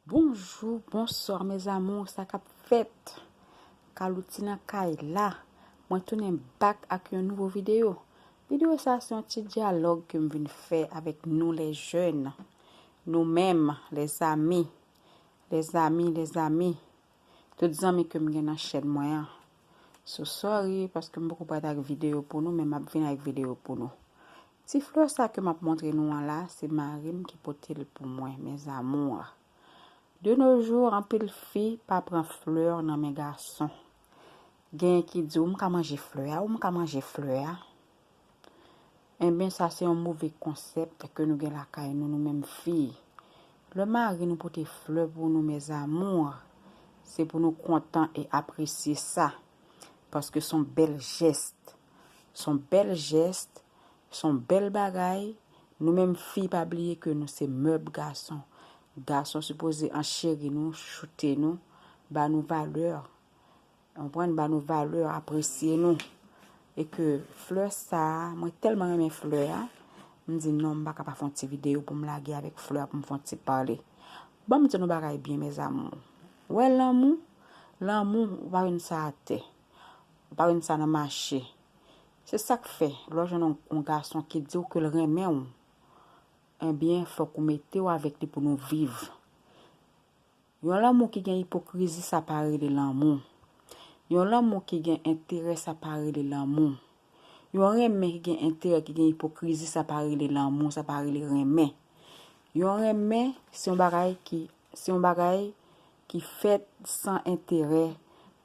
Bonjou bonswa mes amours sa kap fèt Calouty nan kay la mwen tounen back ak yon nouvo vidéo vidéo sa se yon ti dyalòg kem vin fè avèk nou les jeunes nou menm les amis les amis les amis Tout zanmi kem gen nan chèn mwen an. So sorry paske m poko pral ak video pou nou men map vin ak video pou nou. Ti fleur sa ke map montre nou an la se marim ki potel pou mwen mes amours. De nos jours anpil fi pa pran fleur nan men gason. Genyen ki di ou m ka manje fleur a ou m ka manje fleur a. Enben sa se yon move konsèpt ke nou gen lakay nou nou menm fi. Lè mari nou pote flè pou nou mes amours, se pou nou kontan e apresye sa. Paske son bèl jèst. Son bèl jèst, son bèl bagay, nou menm fi pa bliye ke nou se mèb gason. Gason sipoze ancheri nou, choute nou, ba nou valè. Konprann ba nou valè apresye nou e ke flè sa mwen tèlman renmen flè a m di non m pa ka pa fon ti video pou m lage avèk flè a pou m fon ti pale ban m di nou bagay byen mes amour wè lanmou lanmou ou pa jwenn sa atè ou pa jwenn sa nan mache se sak fè lè w jwenn yon gason ki di w ke l renmen w ebyen fòk ou mete w avèk li pou nou viv. Yon lanmou ki gen ipokrizi sa pa rele lanmou. Yon lanmou ki gen enterè sa pa rele lanmou. Yon renmen ki gen enterè ki gen ipokrizi sa pa rele lanmou, sa pa rele renmen. Yon renmen se yon bagay ki, se yon bagay ki fèt san enterè,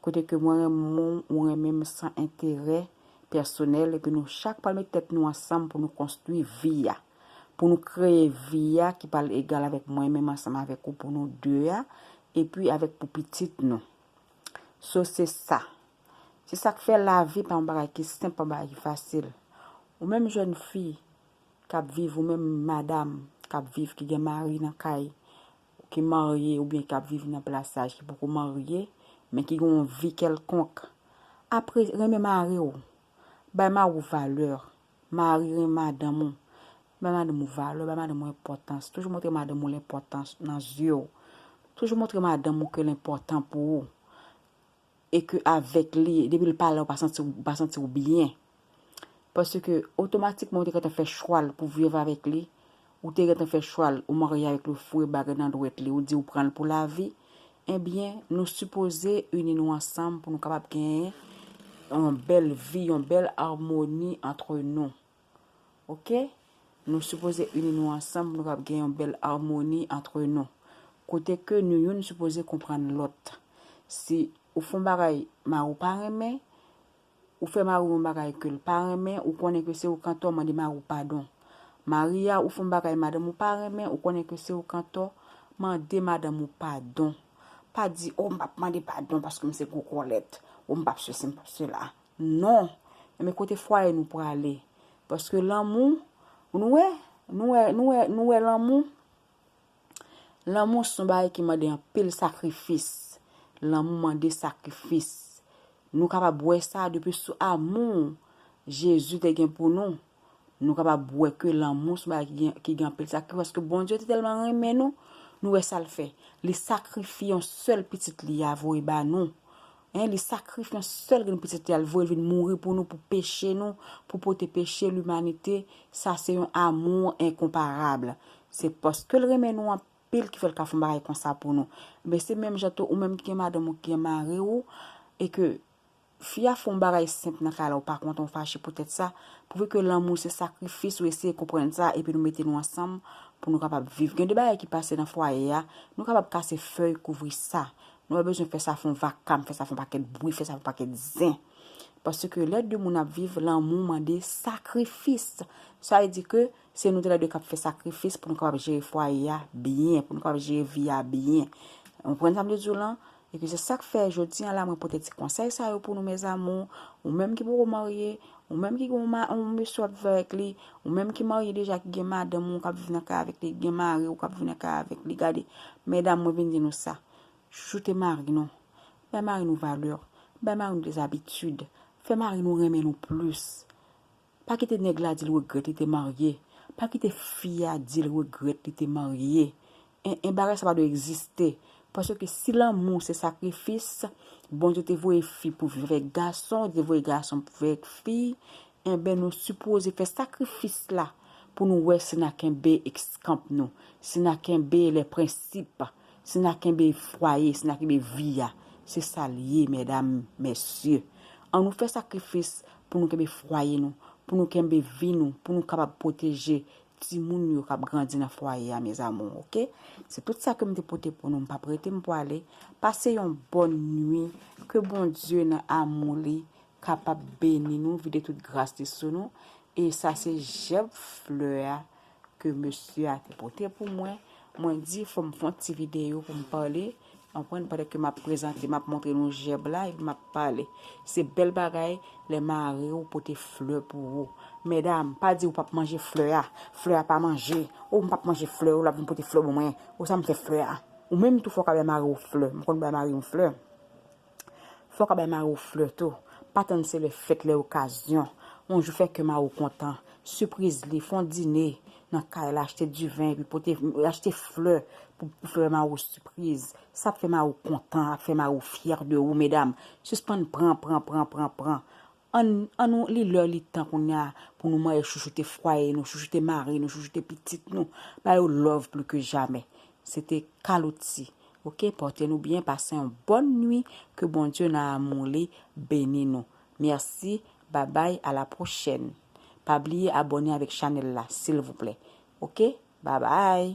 kote ke mwen renmen w, ou renmen m san enterè pèsonèl epi nou chak pral met tèt nou ansanm pou nou konstwi vi a. Pou nou kreye vi a ki pral egal avèk mwen menm ansanm avèk ou pou nou 2 a, epi avèk pou pitit nou. So se sa. Se sa k fè lavi pa yon bagay ki senp, pa yon bagay ki fasil. Ou menm jèn fi k ap viv, ou menm madam k ap viv, ki gen mari nan kay, ki marye oubyen k ap viv nan plasaj, ki poko marye, men ki gen yon vi kèlkonk, apre, renmen mari w, bay mari w valè. Mari renmen madanm ou. Bay madanm ou valè, bay madanm ou enpòtans. Toujou montre madanm ou l enpòtan nan zye w. Toujou montre madanm ou ke l enpòtan pou ou. E ke avèk li, depi l pa la ou pa santi ou, ou pa santi ou byen. Paske otomatikman ou te gentan fè chwa l pou viv avèk li, Ou te gentan fè chwal ou marye avèk li ou foure bagay nan dwèt li ou di ou pranl pou lavi ebyen nou sipoze ini nou ansanm pou nou kapab genyen yon bèl vi yon bèl armoni antre nou ok nou sipoze ini nou ansanm pou nou kapab genyen yon bèl armoni antre nou kote ke nou youn sipoze konprann lòt si ou fon bagay mari ou pa renmen Ou fè mariw yon bagay kel pa renmen ou konnen ke se ou k antò mande mariw padon. Maria ou fè yon bagay madanm ou pa renmen ou konnen ke se ou k antò mande madanm ou padon. Pa di oh m pap mande padon paske m se gwo kòlèt oh m pap sesi m pap sela non men kote fwaye nou prale paske lanmou nou wè nou wè nou wè nou wè lanmou Lanmou son bagay ki mande anpil sakrifis. Lanmou mande sakrifis. Nou kapab wè sa depi sou amou Jezi te gen pou nou. Nou kapab wè ke lanmou son bagay ki gen anpil sakrifis. Paske Bondye te tèlman renmen nou, nou wè sa l fè. Li sakrifye yon sèl pitit li a voye ba nou. Hein li sakrif yon sèl grenn pitit li al voyel vin mouri pou nou pou peche nou pou pote peche limanite sa se yon amour incomparable se paskel renmen nou anpil ki fèl ka fon bagay konsa pou nou ebyen se menm jan tou ou menm ki gen madanm ou ki gen mari ou e ke fi a fon bagay senp nan kay la ou pa kontan ou fache pou tèt sa prouve ke lanmou se sakrifis ou eseye konprann sa epi nou mete nou ansanm pou nou kapab viv gen de bagay ki pase nan fwaye a nou kapab kase fèy kouvri sa Nou pa bezwen fè sa fon vakam, fè sa fon pakèt bwi, fè sa fon pakèt zen. Paske lè de moun ap viv, lanmou mande sakrifis. Sa vle di ke se nou tèlè de kap fè sakrifis pou nou kapab jere fwaye a byen, pou nou kapab jere vi a byen. Ou konprann sa m vle di w lan? Epi se sak fè jodi an la mwen pote ti konsèy sa yo pou nou mes amours. Ou menm ki poko marye, Ou menm ki gen yon mesye w ap viv avèk li, ou menm ki marye deja ki gen madanm ou k ap viv nan kay avèk li, ki gen mari ou k ap viv nan kay avèk li, gade, medam mwen vin di nou sa, chouchoute mari nou, bay mari nou valè, bay mari nou des habitudes, fè mari nou renmen nou plis. Pa kite nèg la di l regrèt li te marye, pa kite fi a di l regrèt li te marye, En en bagay sa pa dwe egziste paske si lanmou se sakrifis Bondye te voye fi pou viv avèk gason li te voye gason pou viv avèk fi enben nou sipoze fè sakrifis la pou nou wè si na kenbe eskanp nou si na kenbe lè prensip si na kenbe fwaye si na kenbe vi a se sa l ye mèdam mèsye an nou fè sakrifis pou nou kenbe fwaye nou pou nou kenbe vi nou pou nou kapab pwoteje timoun yo kap grandi nan fwaye a mes amours ok se tout sa kem te pote pou nou m pap rete m pwale pase yon bòn nwi ke Bondye nan amou li kapab beni nou vide tout gras li sou nou e sa se jèb flè a ke mesye a te pote pou mwen mwen di fòm fon ti video pou m pale Konprann pandan ke map prezante map montre nou jèb la epi map pale se bèl bagay lè mari ou pote flè pou ou medam pa di ou pap manje flè a flè a pa manje oh m pap manje flè ou lap vin pote flè ban mwen oh sa m fè flè a ou menm tou fòk a bay mari ou flè m konn bay mari m flè. Fò w ka bay mari w flè tou. Pa tann se lè fèt, lè okazyon. Yon jou fè kè mari w kontan. Sipriz li, fè yon dine nan kay la, achte diven epi pote, achte flè pou fè mari w sipriz. Sa ap fè mari w kontan, ap fè mari w fyè de ou medam. Sispann pran, pran, pran, pran, pran. Ann, an nou, li lè li tan kounya pou nou manyen chouchoute fwaye nou, chouchoute mari nou, chouchoute pitit nou, ba yo love plu ke jamè. Se te Calouty. Ok, porte nou byen, pase yon bonne nuit, ke Bondye nan amour li beni nou. Merci, babay, a la prochaine. Pa bliye abone avek chanel la, silvouplè. Ok, babay!